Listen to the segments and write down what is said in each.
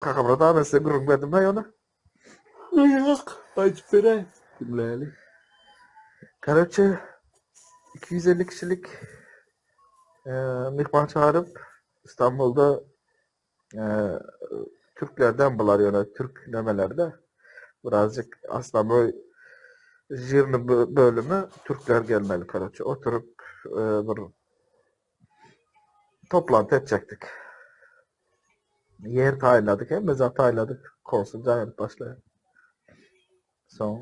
Kakamyrat aga men size gürrüň berdim bä ýöne? Ýok, aýdyp beräý, diňläli. Karaçe iki ýüz elli kişilik myhman çagyryp Istanbulda türklerden bular ýöne türk nemelerde birazjyk Aslaboý žirni bölümi türkler gelmeli karaçe oturyp bir Toplanty etjekdik. Ýer taýynladyk, hemme zat taýynladyk. Konsul jaýyryp başlaýar. Soň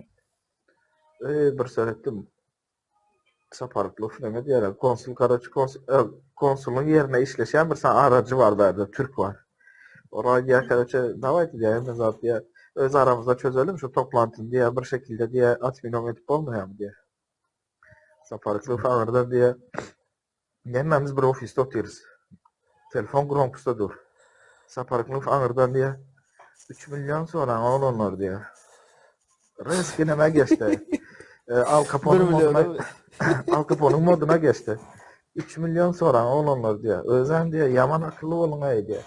öý bir seretdim. Saparykly Flemet ýere konsul karaçy konsul e, konsuluň ýerine işleşen bir sany arajy bar bärde türk bar. Ora ýa karaçy daway diýär, hemme zat diýär. Öz aramyzda çözelim şu toplantyny diýär, bir şekilde diýär, atminom edip bolmaýarmy diýär. Saparykly sagyrda diýýär. Hemmämiz bir ofisde otyrys. Telefon grompusda dur. Saparykly sagyrda diýýär. 3 million soran oglanlar diýýär. Rys kineme geçdi. E, Al Capone moduna, Al Capone moduna geçdi. 3 million soran oglanlar diýýär. Özem diýýär, ýaman akylly boluň aý diýýär.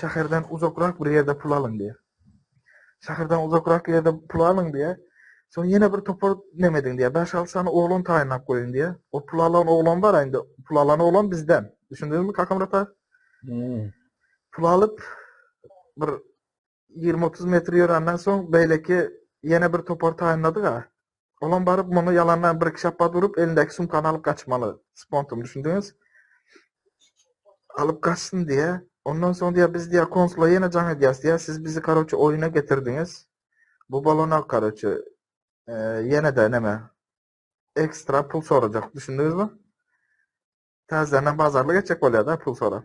Şäherden uzakrak bir ýerde pul alyň diýýär. Şäherden uzakrak ýerde pul alyň diýýär. Soň ýene bir topar näme ediň diýýär. Bäş-alty sany oglan taýynlap goýuň diýýär. O pul alan oglan bar indi. Pul alan oglan bizden. Düşündiňizmi Kakamyrat aga? Pul alyp bir 20-30 metr ýörenden soň beýleki ýene bir topar taýynlady-da. Olam baryp muny ýalandan bir iki şapbat urup elindäki sumkany alyp gaçmaly. Spontum düşündiňiz? Alyp gaçsyn diýýä. Ondan soň diýýä biz diýýä konsula ýene jaň edýäs diýýä. Siz bizi karoçe oýuna getirdiňiz. Bu bolana karoçe ýene-de näme? Ekstra pul sorajak. Düşündiňizmi? Täzeden bazarly geçjek bolýar-da pul sorap.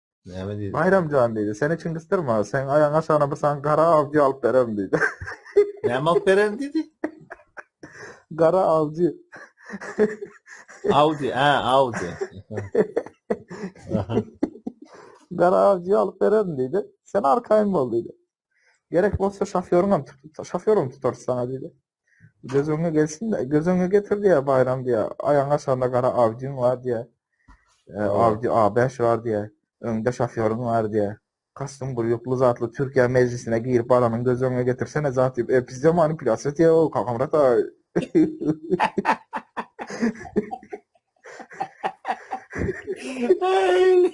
Näme diýdi? Baýram jan diýdi. Seni kim gysdyrmaz? Sen aýagyň aşagyna bir san gara awjy alyp bererin diýdi. Näme alyp bererin diýdi? Gara awjy. Audi, a, Audi. Gara awjy alyp bererin diýdi. Sen arkaýyn bol diýdi. Gerek bolsa şofýoryňam tutup, şofýorum tutar sana diýdi. Göz öňe gelsin, göz öňe getir diýär Baýram diýär. Aýagyň aşagynda gara Audiň bar diýär. E, Audi A5 bar diýär. Öňde şofýoryň bar diýär. Kastyň bir ýukly zatly Türkiýe mejlisine girip baranyň göz öňe getirsene zat diýip. E, pizde manipulýasiýa diýär-ow, Kakamyrat aga. Eý!